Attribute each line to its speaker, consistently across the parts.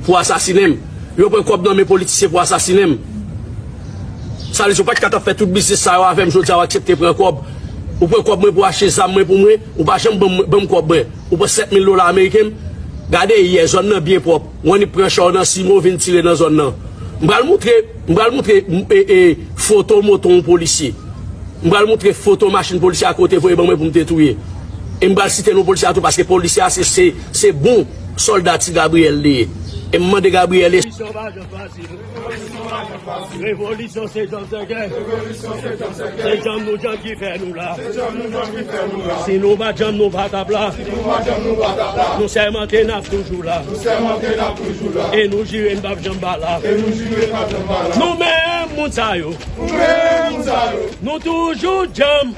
Speaker 1: Pou asasine m. Yo pran kòb nan men politisyen pou asasine m. Sa vle di yo pa t ka t ap fè tout biznis sa yo avè m jodi a w aksepte pran kòb. Ou pran kòb mwen pou achte zam mwen pou mwen, ou pa janm ban m kòb mwen. Ou pran 7 mil dola ameriken m. Gade yè, zòn nan byen pwòp. W annik pran cha w nan simo vin tire nan zòn nan. M pral moutre, m pral moutre e foto moto yon polisye. M pral moutre foto machin polisye a ke w te voye ban mwen pou m te touye. E m pral site non polisye a tou paske polisye a se bon. Solda ti Gabriel li ye. E m mande Gabriel e. Revolisyon pa janm fasil. Revolisyon se janm sèkè. Se janm nou janm ki fè nou la. Si nou pa janm nou pa tap la. Nou sèmante n ap toujou la. E nou jire n pap janm pa la. Nou menm moun sa yo. Nou toujou janm.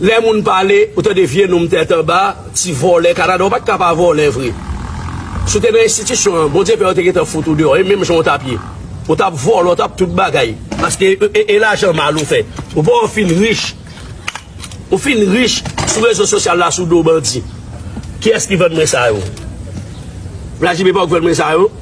Speaker 1: Lè moun pale, ou tande vye nonm tèt anba, ti vòlè Kanada, ou pa t ka pa vòlè vre. Si w te nan enstitisyon an, Bondye pè yo te gentan fout ou deyò, e menm jan ou t ap ye. Ou t ap vòlè, ou t ap tout bagay. Paske e lajan mal ou fè. Ou pa wè w fin rich, ou fin rich sou rezo sosyal la sou do bandi. Kiyès ki vann mwen sa yo? Vladjimir pa wè w ki vann mwen sa yo?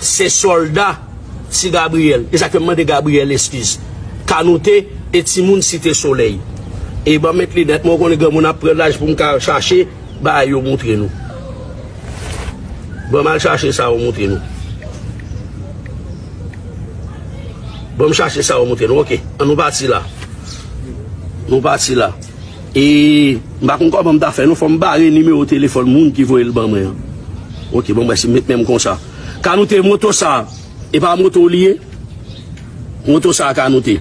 Speaker 1: Se solda ti Gabriel. Esa kem mande Gabriel eskiz. Kanoute e timoun site soley. E banm met linet mwen ou konnen granmoun ap pran laj poum ka chache bagay yo moutre nou. Banm al chache sa yo moutre nou. Banm chache sa yo moutre nou ok. An nou pati la. Nou pati la. E m pa konn kòman m ta fè non, fò m bare nimewo telefòn moun ki voye l ban mwen an. Ok, bon brèf, m met men m konsa. Kanoute, moto sa a, e pa moto w li ye? Moto sa a, Kanoute.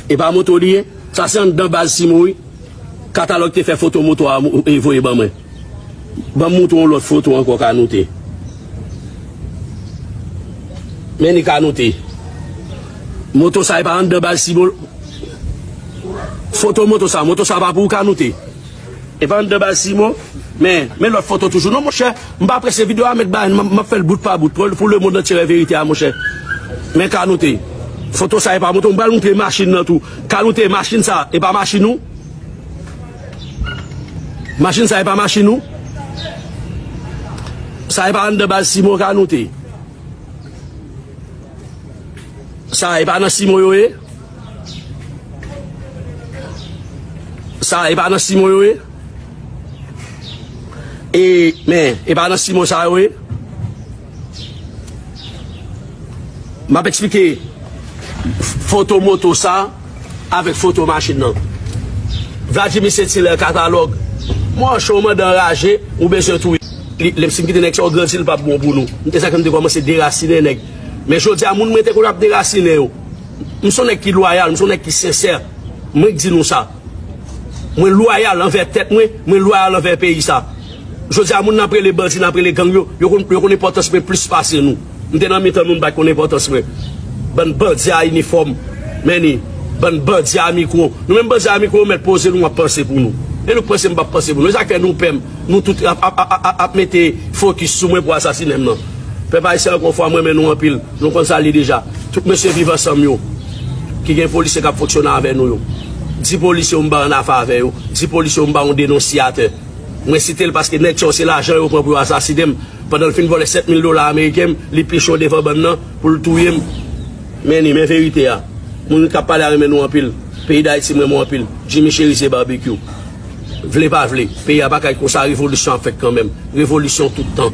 Speaker 1: E pa moto w li ye? Sa se anndan baz Simo wi. Katalòg te fè foto moto a voye ban mwen. Banm moutre yon lot foto anko kanoute. Men li kanoute. Moto sa e pa andan baz si bolo. Foto moto sa. Moto sa pa pou ou kanoute. E pa andan baz si mo. Men, men lot foto toujou. Non monche, m pa prese video a met bay an. M ap fel bout pa bout. Pou le mond antye we verite a monche. Men kanoute. Foto sa e pa moto. M pral moutre machin nan tou. Kanoute, machin sa e pa machin ou. Machin sa e pa machin ou? Sa e pa anndan baz Simon Kanoute? Sa e pa nan Simon yo ye? Sa e pa nan Simon yo ye? E men, e pa nan Simon sa yo ye? Map eksplike foto moto sa avèk foto machin nan. Vladjimi Sentilè katalòg Mò cho mandan raje ou bezwen touye li lèm si m kite nèg sa yo grandi li pap bon pou nou m te sa ke m te kòmanse derasinen nèg men jodi a moun mwen te konn ap derasinen yo m son nèg ki lwayal m son nèg ki sensè mwen k di nou sa. Mwen loyal anvè tèt mwen, mwen loyal anvè peyi sa. Jodi a moun nap rele bandi, nap rele gang yo, yo konn yo konn enpòtans mwen plis pase nou. M te nan mitan nou, m pa t konn enpòtans mwen. Bann bandi a inifòm, many, bann bandi a mikwo. Nou menm bandi a mikwo, yo mèt poze nou ap panse pou nou. E nou k panse m pap panse pou nou. E sa k fè nou pè m, nou tout ap ap ap ap ap mete fokis sou mwen pou asasine m nan. Pèp ayisyen ankò fwa m renmen nou anpil. Nou konn sa li deja. Tout mesye viv ansanm yo ki gen polisye kap fonksyone avè nou yo di polisye yo m bay annafa avè yo di polisye yo m bay yon denonsyatè mwen site l paske nèg sa yo se lajan yo pran pou yo asasine m pandan l fin vòlè 7 mil dola ameriken m li pi cho devan bann nan pou l touye m men li men verite a moun kap pale a renmen nou anpil peyi dayiti m renmen w anpil Jimmy Cherizier Barbecue vle pa vle peyi a pa ka ret konsa revolisyon ap fèt kanmenm revolisyon tout tan.